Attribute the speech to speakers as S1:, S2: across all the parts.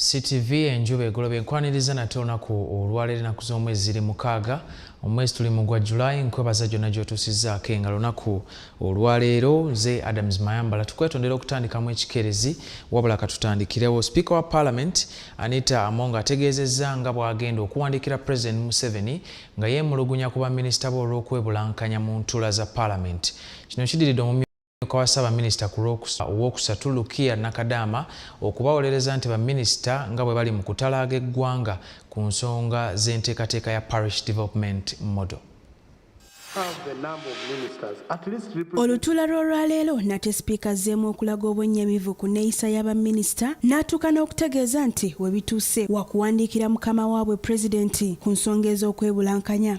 S1: CTV enjuba egoloba enkwaniriza nate olunaku olwaleero enaku z'omwezi ziri mukaaga omwezi tuli mu gwa July nkwebaza gyonna gy'otuusizzaako enga lunaku olwaleero nze Adams Mayambala tukwetondera okutandikamu ekikeerezi wabula katutandikirewo sipiika wa parliament Anita Among ategeezezza nga bw'agenda okuwandiikira president Museveni nga yeemulugunya ku baminisita be olw'okwebulankanya mu ntuula za parliament kino kidiridde Omumyuka wa Ssaabaminisita ku Lwokusatu Lukia Nakadaama okubawolereza nti baminisita nga bwe bali mu kutalaaga eggwanga ku nsonga z'enteekateeka ya Parish Development Model.
S2: Olutuula lw'olwaleero nate sipiika azzeemu okulaga obwennyamivu ku nneeyisa ya baminisita n'atuuka n'okutegeeza nti we bituuse wakuwandiikira mukama waabwe pulezidenti ku nsonga ez'okwebulankanya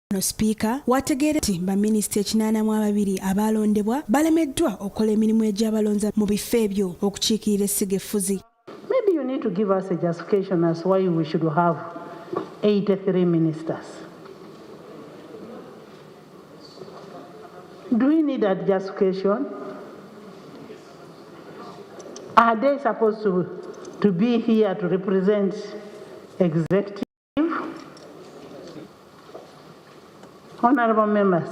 S3: Ono sipiika
S2: wategeere nti baminisita ekinaana mu ababiri abaalondebwa balemeddwa okukola emirimu egyabalonza mu bifo ebyo okukiikirira essiga effuzi. Maybe you need
S4: to give us a justification as why we should have 83 ministers. Do we need that justification? Are they supposed to, to be here to represent executive? Honorable members,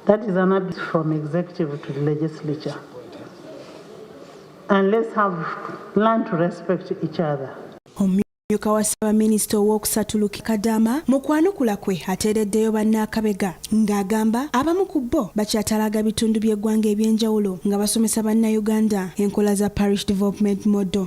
S4: that is an abuse from executive to the legislature. And let's have learn to respect each other. Omumyuka
S2: wa Ssaabaminisita ow'okusatu Luke Kadaama mu kwanukula kwe ateereddeyo bannaakabega ng'agamba abamu ku bo bakyatalaaga bitundu by'eggwanga eby'enjawulo nga basomesa Bannayuganda enkola za Parish Development Model.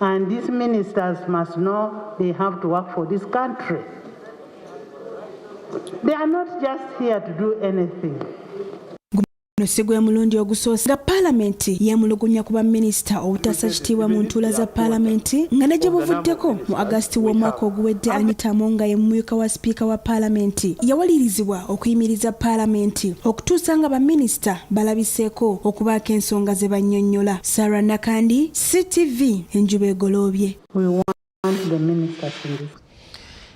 S4: And these ministers must know they have to work for this country. They are not just here to do anything. Guno si
S2: gwe mulundi ogusoose nga palamenti yeemulugunya ku baminisita obutaasa kitiibwa mu ntuula za palamenti nga ne gye buvuddeko mu agasiti w'omwaka oguwedde anita amonga ye mumyuka wa sipiika wa palamenti yawalirizibwa okuyimiriza palamenti okutuusa nga baminisita balabiseeko okubaako ensonga ze bannyonnyola Sarah Nakandi, CTV, enjuba egoloobye. We want the minister to
S1: listen.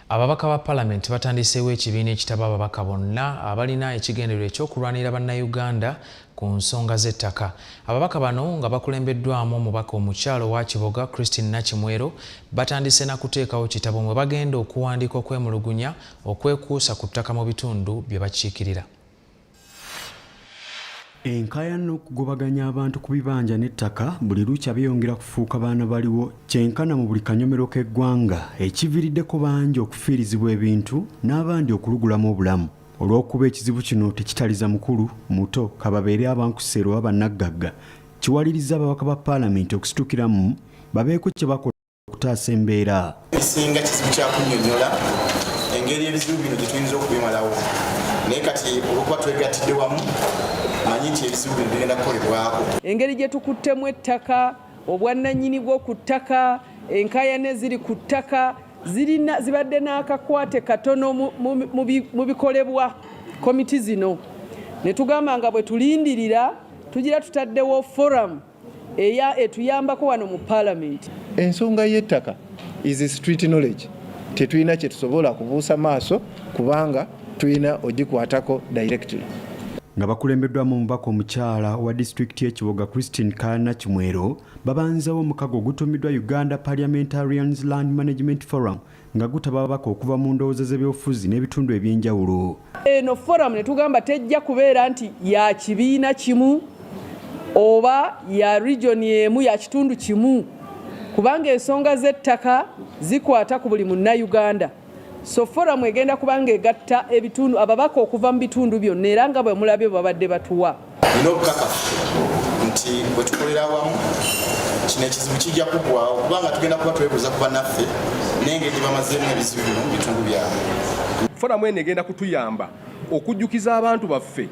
S1: Ababaka ba palamenti batandiseewo ekibiina ekitaba ababaka bonna abalina ekigendererwa ekyokulwanirira bannayuganda ku nsonga z'ettaka. Ababaka bano nga bakulembeddwamu omubaka omukyalo wa Kiboga Christine Nakimwero batandise na kuteekawo kitabo mwe bagenda okuwandiika okwemulugunya okwekuusa ku ttaka mu bitundu bye bakiikirira.
S5: Enkaya n'okugobaganya abantu ku bibanja n'ettaka buli lukya byeyongera kufuuka baana baliwo kyenkana mu buli kanyomero k'eggwanga ekiviiriddeko bangi okufiirizibwa ebintu n'abandi okulugulamu obulamu olw'okuba ekizibu kino tekitaliza mukulu muto kababeere abankuseera oba bannaggagga kiwalirizza ababaka ba paalamenti okusitukiramu babeeko kye bakola okutaasa embeera esinga kizibu
S6: kyakunyonyola engeri ebizibu bino gyetuyinza okubimalawo naye kati olwokuba twegattidde wamu manyi nti ebizibu bino bigenda kukolebwako engeri gyetukuttemu
S7: ettaka obwannanyini bwo ku ttaka enkayana eziri ku ttaka zirina zibadde n'akakwate katono mu bikolebwa komiti zino ne tugamba nga bwe tulindirira tugira tutaddewo forum eya etuyambako wano mu palamenti. Ensonga y'ettaka
S8: is street knowledge, tetulina kye tusobola kubuusa maaso kubanga tulina ogikwatako directly. Nga
S5: bakulembeddwamu omubaka omukyala wa disitulikiti y'ekiboga Christine Kaana Kimwero babanzewo omukago ogutuumiddwa Uganda Parliamentarians Land Management Forum nga gutaba ababaka okuva mu ndowooza z'ebyobufuzi n'ebitundu eby'enjawulo. Eno forum
S7: ne tugamba tejja kubeera nti ya kibiina kimu oba ya region emu ya kitundu kimu kubanga ensonga z'ettaka zikwata ku buli munnayuganda. So forum egenda kubanga egatta ebitundu ababaka okuva mu bitundu byonna era nga bwe mulabye babadde batuwa. nina
S6: obukakafu nti bwetukolera awamu kino ekizibu kijja kugwawo kubanga tugenda kuba twebuuza ku banaffe nengeri gyebamazeemu ebizibu bino mu bitundu byabwe foramu eno
S9: egenda kutuyamba okujjukiza abantu baffe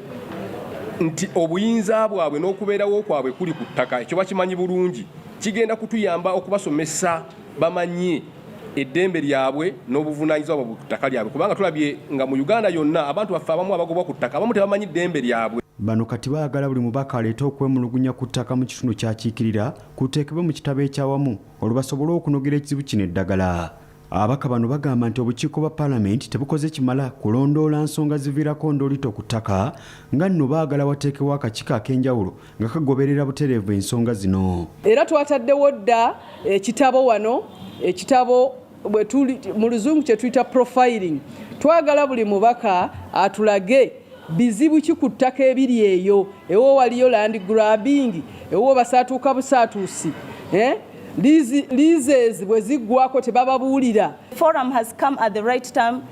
S9: nti obuyinza bwabwe n'okubeerawo kwabwe kuli ku ttaka ekyo bakimanyi bulungi kigenda kutuyamba okubasomesa bamanye eddembe lyabwe n'obuvunaanyizibwa bwabwe ku ttaka lyabwe kubanga tulabye nga mu Uganda yonna abantu baffe abamu abagobwa ku ttaka abamu tebamanyi ddembe lyabwe. Bano kati baagala
S5: buli mubaka aleete okwemulugunya ku ttaka mu kitundu kyakiikirira kuteekebwe mu kitabo ekyawamu olwo basobole okunogera ekizibu kino eddagala. Ababaka bano bagamba nti obukiiko bwa palamenti tebukoze kimala kulondoola nsonga ziviirako ndoolito ku ttaka nga nno baagala wateekewo akakiiko ak'enjawulo nga kagoberera butereevu ensonga zino era twataddewo
S7: dda ekitabo wano ekitabo mu luzungu kyetuyita profiling twagala buli mubaka atulage bizibu ki ku ttaka ebiri eyo ewo waliyo land grabbing ewo basaatuuka busaatuusi eh? leases bwe ziggwako tebababuulira forum has come
S10: at the right time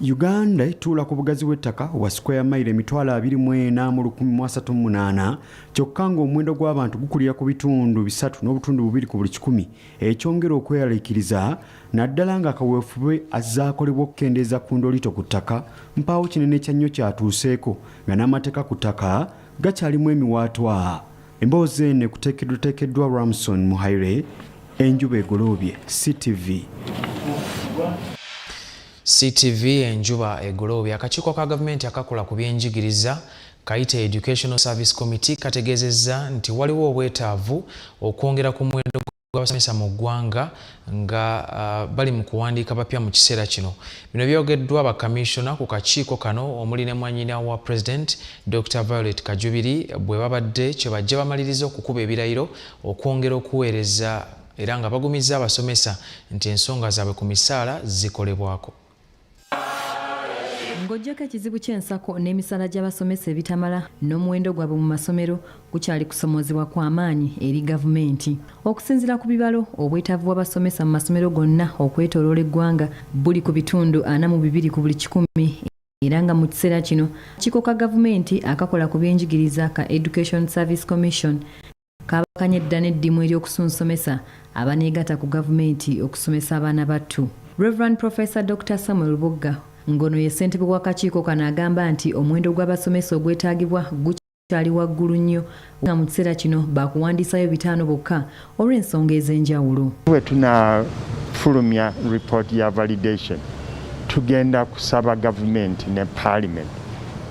S10: Uganda etuula
S5: ku bugazi bw'ettaka obwa sikweya mayiro emitwalo abiri mu ena mu lukumi mu asatu mu munaana kyokka ng'omuwendo gw'abantu gukulira ku bitundu bisatu n'obutundu bubiri ku buli kikumi ekyongera okweyaliikiriza naddala ng'akaweefube azaakolebwa okukendeeza ku ndoliito ku ttaka mpaawo kinene kya nnyo kyatuuseeko nga n'amateeka ku ttaka gakyalimu emiwaatwa emboozi eno ekuteekeddwateekeddwa ramson muhaire enjuba egoloobye ctv
S1: ctv enjuba egoloobye akakiiko ka gavumenti akakola ku byenjigiriza kayita educational service committee kategeezezza nti waliwo obwetaavu okwongera ku muwendo gw'abasomesa mu ggwanga nga uh, bali mu kuwandiika bapya mu kiseera kino bino byogeddwa bakamissiona ku kakiiko kano omuli ne mwanyina wa president dr violet kajubiri bwe babadde kye bajja bamaliriza okukuba ebirayiro okwongera okuweereza era nga bagumizza abasomesa nti ensonga zaabwe ku misaala zikolebwako
S11: Ng'oggyako ekizibu ky'ensako n'emisaala gy'abasomesa ebitamala n'omuwendo gwabwe mu masomero gukyali kusomoozebwa kwa maanyi eri gavumenti. Okusinzira ku bibalo, obwetaavu bw'abasomesa mu masomero gonna okwetoloola eggwanga buli ku bitundu ana mu bibiri ku buli kikumi era nga mu kiseera kino kikoka gavumenti akakola ku byenjigiriza ka Education Service Commission Kabakanye dda n'eddimu ery'okusunsomesa abaneegata ku gavumenti okusomesa abaana battu. Rev. Professor Dokita Samuel Bugga ngono ye ssentebe w'akakiiko kano agamba nti omuwendo gw'abasomesa ogwetaagibwa gukyali waggulu nnyo nga mu kiseera kino baakuwandiisayo bitaano bokka olw'ensonga ez'enjawulo. Bwe
S12: tunafulumya report ya validation tugenda kusaba gavumenti ne parliament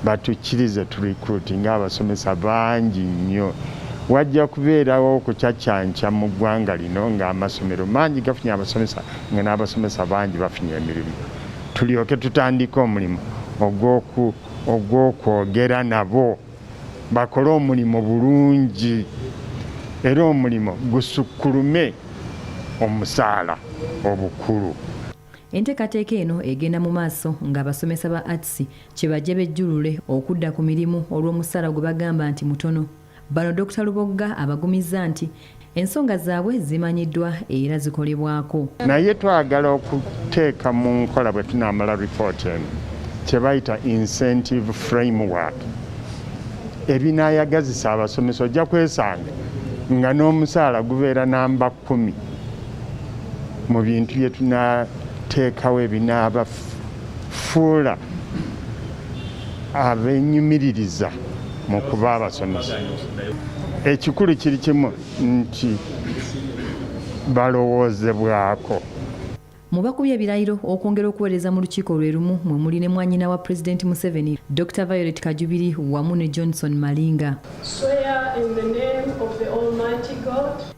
S12: batukkirize tu recruit nga abasomesa bangi nnyo wajja kubeerawo okucaccanca mu ggwanga lino ng'amasomero mangi gafunye abasomesa nga n'abasomesa bangi bafunye emirimu tulyoke tutandike omulimu ogw'okwogera nabo bakole omulimu bulungi era omulimu gusukkulume omusaala obukulu Enteekateeka
S11: eno egenda mu maaso ng'abasomesa ba Arts kye bajja bejjulule okudda ku mirimu olw'omusaala gwe bagamba nti mutono. Bano Dokita Lubogga abagumizza nti ensonga zaabwe zimanyiddwa era zikolebwako. Naye twagala
S12: okuteeka mu nkola bwe tunaamala lipooti eno kye bayita incentive framework ebinaayagazisa abasomesa ojja kwesanga nga n'omusaala gubeera namba kumi mu bintu bye tunateekawo ebinaabafuula abenyumiririza mu kuba abasomesa ekikulu kiri kimu nti balowoozebwako Mu
S11: bakubye ebirayiro okwongera okuweereza mu lukiiko lwe lumu mwe muli ne mwanyina wa Pulezidenti Museveni, Dokita Violet Kajubiri wamu ne Johnson Malinga.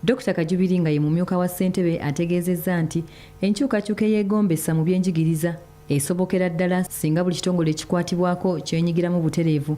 S13: Dokita Kajubiri nga
S11: ye mumyuka wa ssentebe ategeezezza nti enkyukakyuka eyeegombesa mu byenjigiriza esobokera ddala singa buli kitongole ekikwatibwako kyenyigiramu butereevu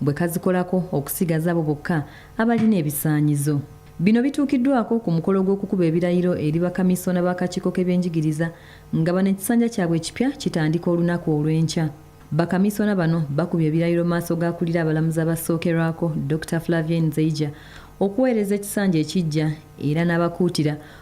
S11: bwe kazikolako okusigaza abo bokka abalina ebisaanyizo. Bino bituukiddwako ku mukolo gw'okukuba ebirayiro eri bakamisoona b'akakiiko k'ebyenjigiriza nga bano ekisanja kyabwe ekipya kitandika olunaku olw'enkya. Bakamisoona bano bakubye ebirayiro maaso g'akulira abalamuzi abasookerwako Dokita Flavien Nzeija okuweereza ekisanja ekiggya era n'abakuutira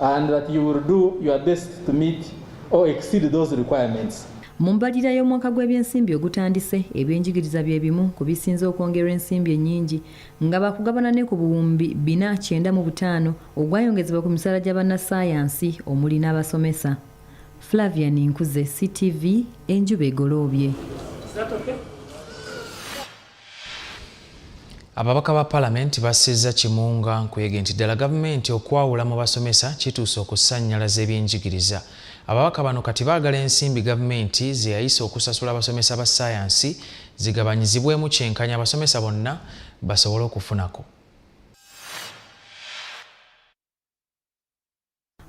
S14: and that you will do your best to meet or exceed those requirements. Mu mbalirira
S11: y'omwaka gw'ebyensimbi ogutandise ebyenjigiriza bye bimu ku bisinze okwongerwa ensimbi ennyingi nga bakugabana ne ku buwumbi bina kyenda mu butaano ogwayongezebwa ku misaala gya bannassaayansi omuli n'abasomesa. Flavian Nkuze, CTV, enjuba egoloobye.
S1: Ababaka ba palamenti bassizza Kimunga nkuyege nti ddala gavumenti okwawula mu basomesa kituuse okusannyalaza ebyenjigiriza. Ababaka bano kati baagala ensimbi gavumenti ze yayisa okusasula abasomesa ba ssaayansi zigabanyizibwemu kyenkanya abasomesa bonna basobole okufunako.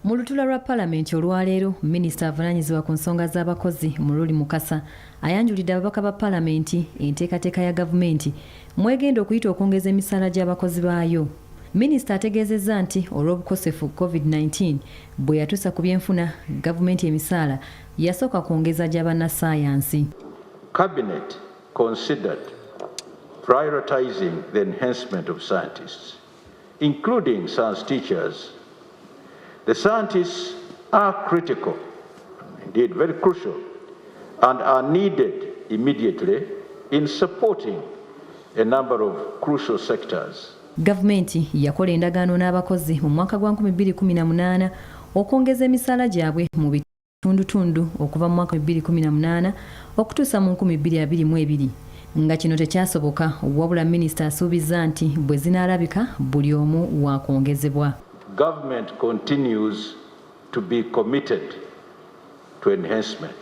S11: Mu lutula lwa palamenti olwaleero minisita avunanyizibwa ku nsonga z'abakozi Mululi Mukasa ayanjulidde ababaka ba palamenti enteekateeka ya gavumenti mwegenda okuyita okwongeza emisaala gy'abakozi baayo. Minisita ategeezezza nti olw'obukosefu COVID-19 bwe yatuusa ku byenfuna gavumenti emisaala yasooka kwongeza gya bannassaayansi. Cabinet
S15: considered prioritizing the enhancement of scientists. including science teachers. The scientists are critical, indeed very crucial, and are needed immediately in supporting a number of crucial sectors. Gavumenti
S11: yakola endagaano n'abakozi mu mwaka gwa 2018 okwongeza emisaala gyabwe mu tundutundu okuva mu mwaka 2018 okutuusa mu 2022 nga kino tekyasoboka wabula minisita asuubizza nti bwe zinaalabika buli omu waakwongezebwa Government
S15: continues to be committed to enhancement.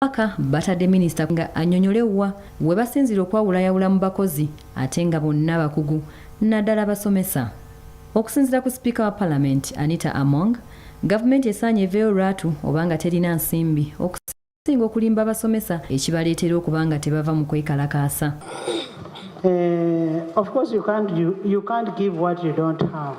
S15: Ababaka
S11: batadde minisita nga anyonyole wa webasinzira okwawulayawula mu bakozi ate nga bonna bakugu naddala abasomesa. Okusinzira ku sipiika wa palamenti Anita Among, gavumenti esaanye eveeyo lwatu oba nga terina nsimbi okusinga okulimba abasomesa ekibaleetera okuba nga tebava mu kwekalakaasa. Uh,
S16: of course you can't, you, you can't give what you don't have.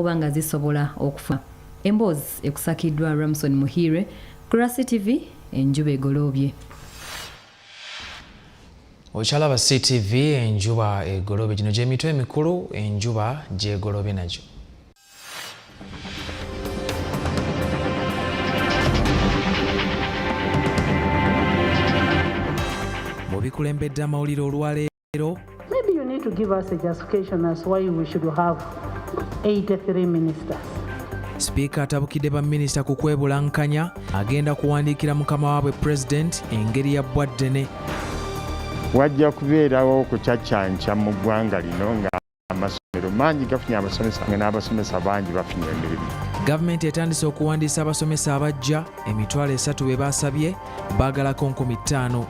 S11: oba nga zisobola okufa emboozi ekusakiddwa ramson muhiire kurasi tv enjuba egoloobye
S1: okyalaba ctv enjuba egolobe gino gyemitwe emikulu enjuba gyegolobe nagyo mu bikulembedde amawulire olwaleero Kayitero Maybe you need to
S16: give us a justification as why we should have 83 ministers. Sipiika
S1: atabukidde baminisita ku kwebulankanya agenda kuwandiikira mukama waabwe pulezidenti engeri ya bbwaddene.
S12: Wajja kubeerawo okucaccanca mu ggwanga lino nga amasomero mangi gafunye abasomesa nga n'abasomesa bangi bafunye emirimu gavumenti etandise
S1: okuwandiisa abasomesa abajja emitwalo esatu be baasabye baagalako nkumi ttaano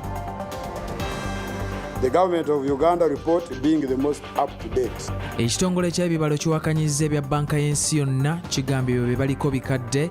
S17: The government of Uganda report being the most up to date. Ekitongole ky'ebibalo
S1: kiwakanyizza ebya banka y'ensi yonna kigambye byo bye baliko bikadde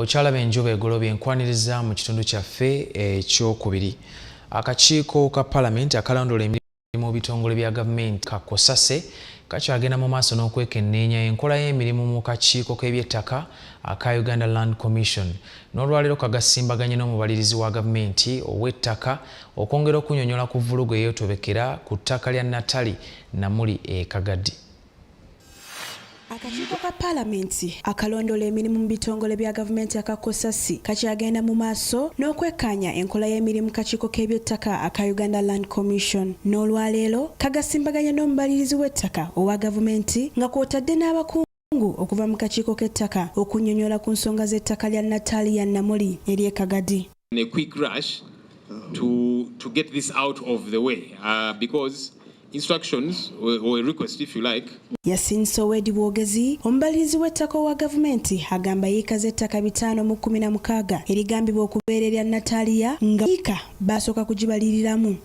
S1: okyalaba enjuba egolobye enkwaniriza mu kitundu kyaffe ekyokubiri akakiiko ka palamenti akalondoola mu bitongole bya gavumenti kakosase kakyagenda mu maaso n'okwekenneenya enkola y'emirimu mu kakiiko k'ebyettaka aka uganda land commission n'olwaleero kagasimbaganye n'omubalirizi wa gavumenti ow'ettaka okwongera okunyonyola ku vvulugu eyotobekera ku ttaka lya natali namuli e kagadi
S2: Akakiiko ka Palamenti akalondoola emirimu mu bitongole bya gavumenti aka COSASI kakyagenda mu maaso n'okwekkaanya enkola y'emirimu kakiiko k'ebyettaka aka Uganda Land Commission n'olwaleero kagasimbaganye n'omubalirizi w'ettaka owa gavumenti nga kw'otadde n'abakungu Ngu okuva mu kakiiko k'ettaka okunnyonnyola ku nsonga z'ettaka lya Natalia Namuli ery'e Kagadi. in a quick rush
S18: to, to get this out of the way uh, because instructions or, or a request if you like Yasin Sowedi
S2: Bwogezi omubalirizi w'ettaka owa gavumenti agamba yiika z'ettaka bitaano mu kkumi na mukaaga erigambibwa okubeera erya Natalia nga yiika baasooka kugibaliriramu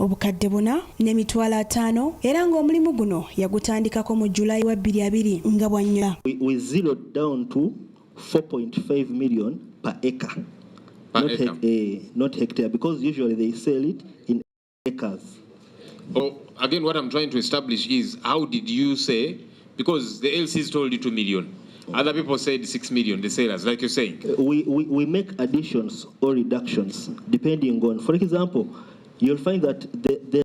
S2: obukadde buna n'emitwalo ataano era ng'omulimu guno yagutandikako mu July wa bbiri abiri nga bw'annyula. We zeroed
S19: down to 4.5 million per acre. Per not, acre. He uh, not hectare because usually they sell it in acres.
S18: Oh, again, what I'm trying to establish is how did you say because the LCs told you 2 million. Other people said 6 million, the sellers, like you're saying. Uh, we, we, we make
S19: additions or reductions depending on, for example, you'll find that the, the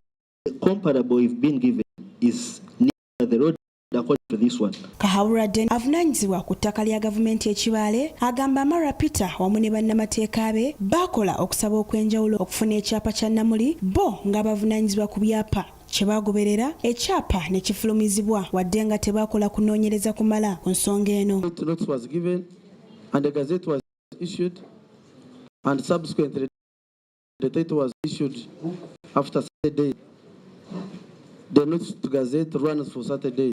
S19: comparable you've been given is near the road Kahawura Den
S2: avunanyizibwa ku ttaka lya gavumenti ekibaale agamba Amara Peter wamu ne bannamateeka be baakola okusaba okw'enjawulo okufuna ekyapa kya Namuli bo nga bavunanyizibwa ku byapa kye baagoberera ekyapa ne kifulumizibwa wadde nga tebaakola kunoonyereza kumala ku nsonga eno
S19: The next gazette runs for Saturday.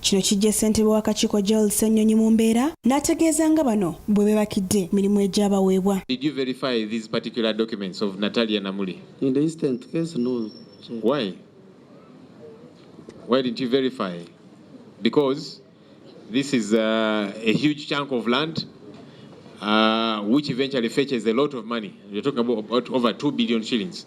S19: Kino kijja ssentebe
S2: w'akakiiko Gerald Ssenyonyi mu mbeera n'ategeeza nga bano bwe bebakidde mirimu egyabaweebwa. Did you verify
S18: these particular documents of Natalia Namuli? In the instant
S19: case, no. Why?
S18: Why didn't you verify? Because this is uh, a huge chunk of land uh, which eventually fetches a lot of money. You're talking about over 2 billion shillings.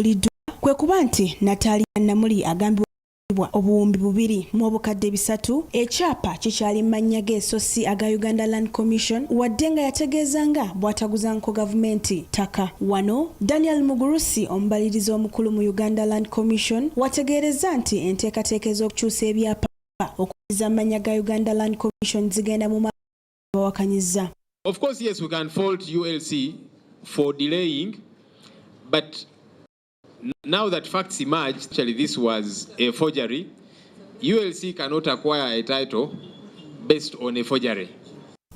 S2: ekyasuuliddwa kwe kuba nti Natalia Namuli agambibwa bwa obuwumbi bubiri mu obukadde bisatu ekyapa kikyali mu mannya ge so si aga Uganda Land Commission wadde nga yategeeza nga bw'ataguzanko gavumenti ttaka. Wano Daniel Mugurusi omubalirizi omukulu mu Uganda Land Commission wategeerezza nti enteekateeka ez'okukyusa ebyapa okuddiza mu mannya ga Uganda Land Commission zigenda mu bawakanyizza. Of course, yes,
S18: we can fault ULC for delaying, but now that facts emerge, actually this was a forgery, ULC cannot acquire a title based on a forgery.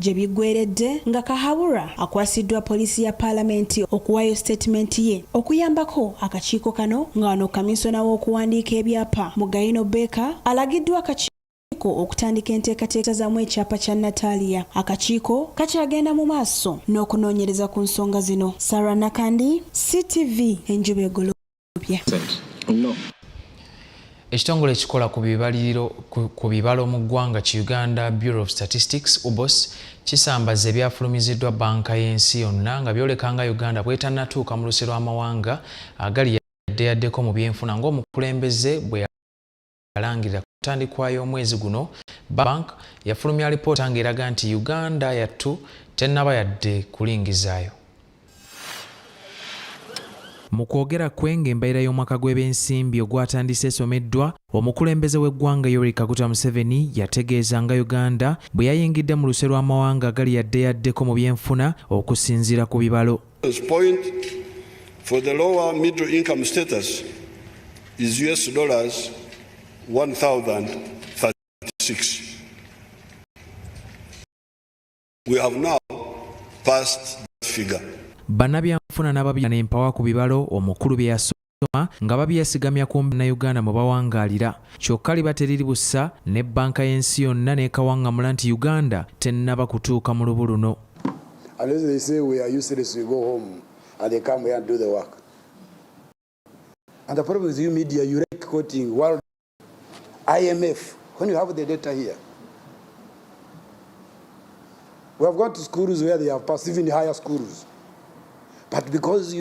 S18: gye
S2: biggweredde nga kahabura akwasiddwa poliisi ya paalamenti okuwaayo sitatimenti ye okuyambako akakiiko kano nga wano kaminsona w'okuwandiika ebyapa mu gayino beeka alagiddwa akakiiko akakiiko okutandika enteekateeka zaamu ekyapa kya Natalia. Akakiiko kakyagenda mu maaso n'okunoonyereza ku nsonga zino. Sarah Nakandi, CTV, Enjuba Egolobye.
S1: Ekitongole ekikola ku bibaliriro ku bibalo mu ggwanga ki Uganda Bureau of Statistics, UBOS, kisambazza ebyafulumiziddwa bbanka y'ensi yonna nga byoleka nga Uganda bw'etannatuuka mu luse lw'amawanga agali yaddeyaddeko mu byenfuna ng'omukulembeze bwe yalangirira ku ntandikwa y'omwezi guno bank yafulumya alipoota ng'eraga nti uganda yattu tennaba yadde kulingizaayo mu kwogera kwe ng'embeera y'omwaka gw'ebyensimbi ogwatandise esomeddwa omukulembeze w'eggwanga yoweri kaguta museveni yategeeza nga uganda bwe yayingidde mu luse lw'amawanga agali yaddeyaddeko mu byenfuna okusinziira ku bibalo Point
S20: for the lower middle income status is US dollars 1036. We have now passed that figure. Banabyanfuna
S1: n'ababina n'empawa ku bibalo omukulu bye eby'okusoma nga babyesigamya ku Uganda mwe bawangaalira kyokka liba teriri bussa ne bbanka y'ensi yonna n'ekawangamula nti Uganda tennaba kutuuka mu lubu luno.
S17: And the problem is you media, you like quoting World IMF when you have the data here. We have gone to schools where they have passed, even higher schools. But because you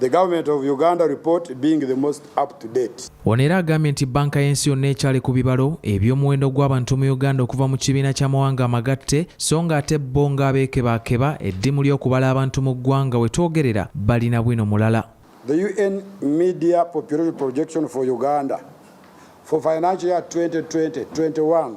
S17: The government of Uganda report being the most up to date. Ono era agambye nti
S1: bbanka y'ensi yonna ekyali ku bibalo eby'omuwendo gw'abantu mu Uganda okuva mu kibiina ky'amawanga amagatte so nga ate bo ng'abeekebaakeba eddimu ly'okubala abantu mu ggwanga we twogerera balina bwino mulala. The UN
S17: Media Population Projection for Uganda for financial year 2020-21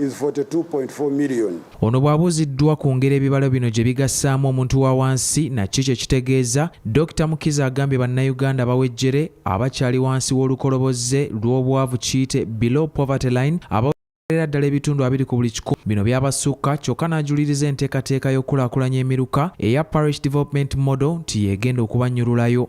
S17: is 42.4 million. Ono bw'abuuziddwa
S1: ku ngeri ebibalo bino gye bigassaamu omuntu wa wansi na kiki kye kitegeeza, Dokita Mukiza agambye Bannayuganda abawejjere abakyali wansi w'olukoloboze lw'obwavu kiyite below poverty line aba era ddala ebitundu abiri ku buli kikumi bino byabasukka kyokka n'ajuliriza enteekateeka y'okukulaakulanya emiruka eya parish development model nti yeegenda okubannyululayo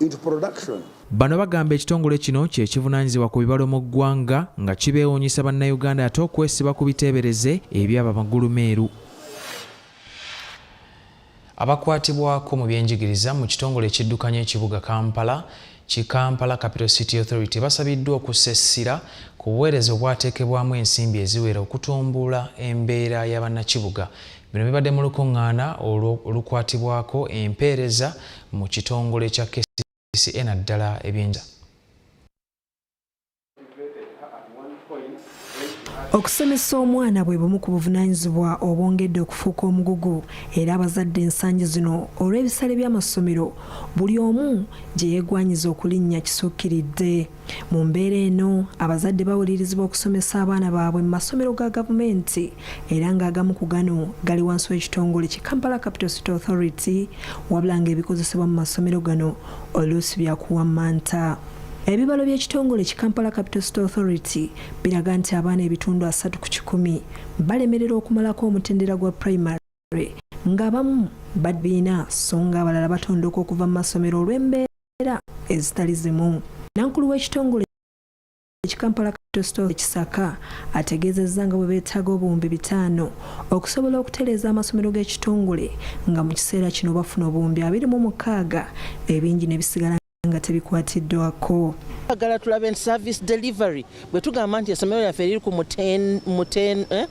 S17: into production. Bano bagamba
S1: ekitongole kino kye kivunanyizibwa ku bibalo mu ggwanga nga kibeewuunyisa Bannayuganda ate okwesiba ku biteebereze ebyaba magulu meeru. Abakwatibwako mu byenjigiriza mu kitongole ekiddukanya ekibuga Kampala ki Kampala Capital City Authority basabiddwa okussa essira ku buweereza obwateekebwamu ensimbi eziwera okutumbula embeera y'abannakibuga. Bino bibadde mu lukuŋŋaana olukwatibwako empeereza mu kitongole kya kcca naddala ebyenjaa
S6: okusomesa omwana bwe bumu ku buvunaanyizibwa obwongedde okufuuka omugugu era abazadde ensangi zino olw'ebisale by'amasomero buli omu gye yeegwanyiza okulinnya kisukkiridde Mu mbeera eno abazadde bawulirizibwa okusomesa abaana baabwe mu masomero ga gavumenti era ng'agamu ku gano gali wansi w'ekitongole ki Kampala Capital City Authority wabula ng'ebikozesebwa mu masomero gano oluusi byakuwammanta. Ebibalo by'ekitongole ki Kampala Capital City Authority biraga nti abaana ebitundu asatu ku kikumi balemerera okumalako omutendera gwa primary Library ng'abamu babiina so ng'abalala batondoka okuva mu masomero olw'embeera ezitali zimu nankulu w'ekitongole ekikampala capital ekisaka ategeezezza nga bwe beetaaga obuwumbi bitaano okusobola okutereeza amasomero g'ekitongole nga mu kiseera kino bafuna obuwumbi abiri mu mukaaga ebingi ne bisigala nga tebikwatiddwako agala tulabe
S8: nti service delivery bwe tugamba nti essomero lyaffe liri ku eh,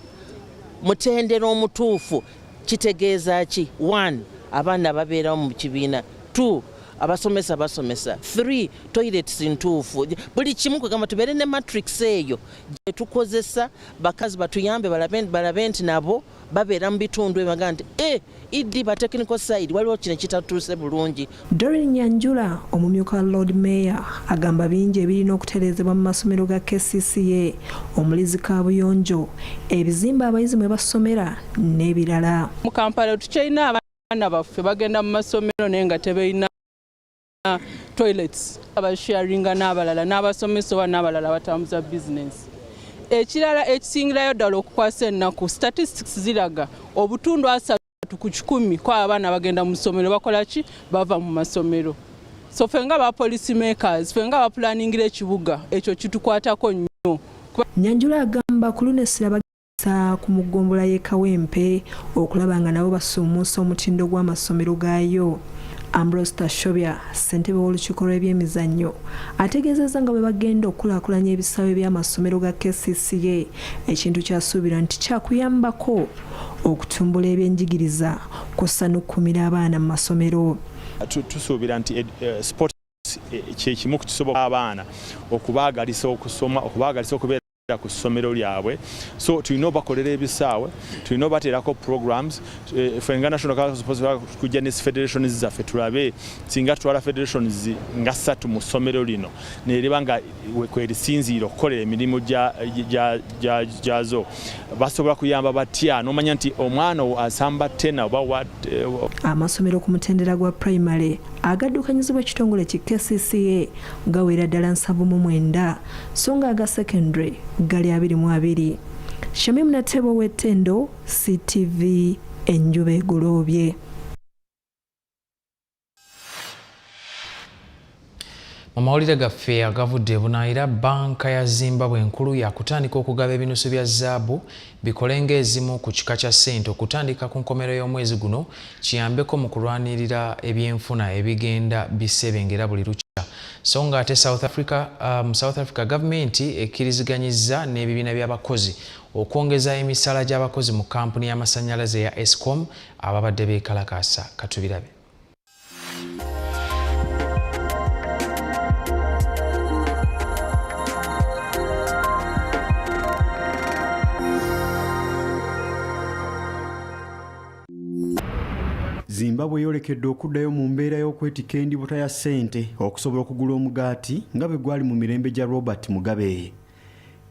S8: mutendera omutuufu kitegeeza ki one abaana ababeerawo mu kibiina two abasomesa basomesa three toilets ntuufu buli kimu kwegamba tubeere ne matrix eyo gyetukozesa bakazi batuyambe balabe nti nabo babeera mu bitundu ebaga nti e eh, ed ba technical side waliwo kino kitatuuse bulungi dorin nyanjula
S6: omumyuka wa lord mayor agamba bingi ebirina okutereezebwa mu masomero ga kcca omuli zikabuyonjo ebizimba abayizi mwe basomera n'ebirala mu kampala
S13: tukyalina abaana baffe bagenda mu masomero naye nga tebeyina balina toilets abasharinga n'abalala n'abasomesa oba n'abalala abatambuza bizinensi ekirala ekisingirayo ddala okukwasa ennaku statistics ziraga obutundu asatu ku kikumi kwa abaana bagenda mu ssomero bakola ki bava mu masomero so fe nga ba policy makers fe nga bapulaningira ekibuga ekyo kitukwatako nnyo nyanjula
S6: agamba ku luno essira okutuusa ku mu ggombolola y'e Kawempe okulaba nga nabo basuumuusa omutindo gw'amasomero gaayo. Ambrose Tashobya ssentebe w'olukiiko lw'ebyemizannyo ategeezezza nga bwe bagenda okukulaakulanya ebisaawe by'amasomero ga KCCA ekintu kyasuubira nti kyakuyambako okutumbula ebyenjigiriza kussa n'okukuumira abaana mu masomero tusuubira
S9: nti eh, eh, sport eh, kyekimu kukisobola abaana okubaagalisa okusoma okubaagalisa okubeera ku ssomero lyabwe so tulina obakolera ebisaawe tulina obateerako programs eh, fe nga national kujja ne federations zaffe tulabe singa tutwala federations nga ssatu mu ssomero lino neriba nga kwerisinziire okukolera emirimu gyazo basobola kuyamba batya nomanya nti omwana asamba tena oba wa eh, amasomero
S6: ku mutendera gwa primary agaddukanyizibwa ekitongole ki kcca gawera ddala nsavu mu mwenda so nga aga secondary gali abiri mu abiri shamim natebo w'ettendo ctv enjuba egoloobye
S1: mu mawulire gaffe agavudde bunaayira banka ya zimbabwe enkulu yakutandika okugaba ebinusu bya zaabu Bikole ng'ezimu ku kika kya ssente okutandika ku nkomerero y'omwezi guno kiyambeko mu kulwanirira ebyenfuna ebigenda bisebengera buli lukya so nga ate south africa mu um, south africa gavumenti ekkiriziganyizza n'ebibiina by'abakozi okwongeza emisala gy'abakozi mu kampuni y'amasannyalaze ya escom ababadde beekalakaasa katubirabe
S5: Zimbabwe yolekedde okuddayo mu mbeera y'okwetika endibuta ya ssente okusobola okugula omugaati nga bwe gwali mu mirembe gya Robert Mugabe.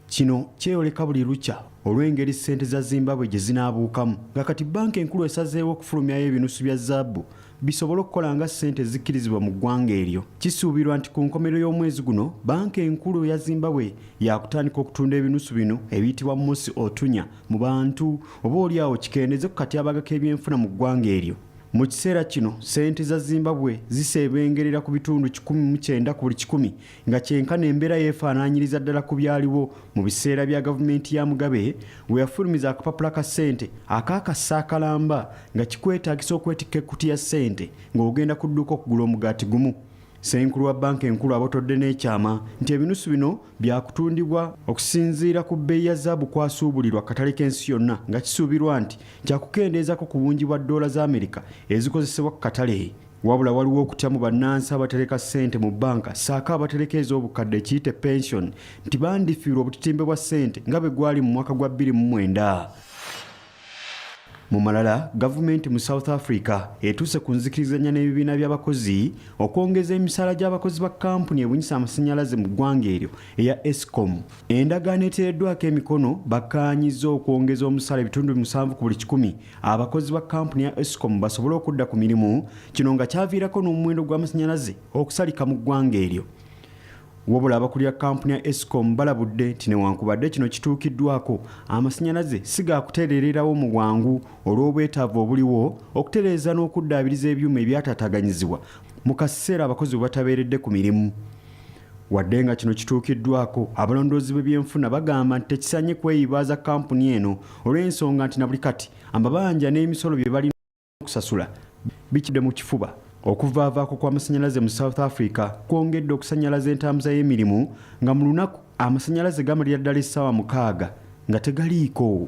S5: Kino kyeyoleka buli lukya olw'engeri ssente za Zimbabwe gye zinaabuukamu nga kati bbanka enkulu esazeewo okufulumyayo ebinusu bya zaabu bisobole okukola nga ssente ezikkirizibwa mu ggwanga eryo. Kisuubirwa nti ku nkomerero y'omwezi guno bbanka enkulu eya Zimbabwe yaakutandika okutunda ebinusu bino ebiyitibwa Mosi Otunya mu bantu oba olyawo kikendeze ku katyabaga k'ebyenfuna mu ggwanga eryo. Mu kiseera kino ssente za Zimbabwe ziseebengerera ku bitundu kikumi mu kyenda ku buli kikumi nga kyenkana embeera yeefaanaanyiriza ddala ku byaliwo mu biseera bya gavumenti ya mugabe we yafulumiza akapapula ka ssente akaakassa akalamba nga kikwetaagisa okwetikka ekkuti ya ssente ng'ogenda ku dduuka okugula omugaati gumu senkulu wa banka enkulu abotodde n'ekyama nti ebinusu bino byakutundibwa okusinziira ku bbeeyi ya zaabu kwasuubulirwa katale k'ensi yonna nga kisuubirwa nti kyakukendeezako ku bungi bwa ddoola za amerika ezikozesebwa ku katale Wabula waliwo okutya mu bannansi abatereka ssente mu bbanka ssaako abatereka ez'obukadde ekiyite pension nti bandifiirwa obutitimbe bwa ssente nga bwe gwali mu mwaka gwa 2009. Mu malala, gavumenti mu South Africa etuuse ku nzikirizanya n'ebibiina by'abakozi okwongeza emisaala gy'abakozi ba kkampuni ebunyisa amasannyalaze mu ggwanga eryo eya Escom. Endagaano eteereddwako emikono bakkaanyizza okwongeza omusaala ebitundu musanvu ku buli kikumi abakozi ba kampuni ya escom basobole okudda ku mirimu kino nga kyaviirako n'omuwendo gw'amasannyalaze okusalika mu ggwanga eryo wabula abakulira kampuni ya escom balabudde nti newankubadde kino kituukiddwako amasannyalaze si ga kutereererawo mu bwangu olw'obwetaavu obuliwo okutereeza n'okuddaabiriza ebyuma ebyataataganyizibwa mu kaseera abakozi bwe batabeeredde ku mirimu Wadde nga kino kituukiddwako, abalondoozi b'ebyenfuna bagamba nti tekisanye kweyibaaza kkampuni eno olw'ensonga nti na buli kati amabanja n'emisolo bye balina okusasula bikidde mu kifuba. Okuvaavaako kw'amasannyalaze mu South Africa kwongedde okusannyalaza entambuza y'emirimu nga mu lunaku amasannyalaze gamalira ddala essaawa mukaaga nga tegaliiko.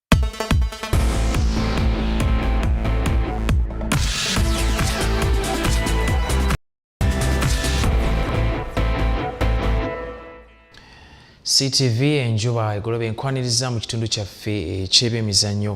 S1: CTV enjuba egoloba enkwaniriza mu kitundu kyaffe eky'ebyemizannyo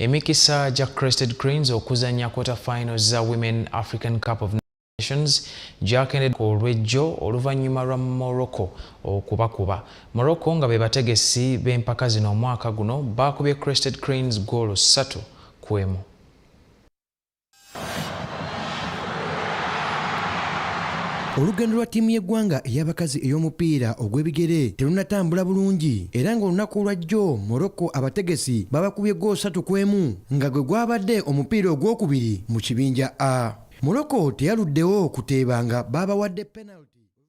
S1: emikisa gya Crested Cranes okuzannya quarter finals za Women African Cup of Nations gyakendedde ku olw'ejjo oluvannyuma lwa Morocco okubakuba. Morocco nga be bategesi b'empaka zino omwaka guno baakubye Crested Cranes ggoolo ssatu ku emu.
S4: olugendo lwa ttiimu y'eggwanga ey'abakazi ey'omupiira ogw'ebigere terunatambula bulungi era ng'olunaku olwajjo morocco abategesi babakubye ggoosatu ku emu nga gwe gwabadde omupiira ogwokubiri mu kibinja A. Morocco teyaluddewo kuteeba nga baabawadde penaliti.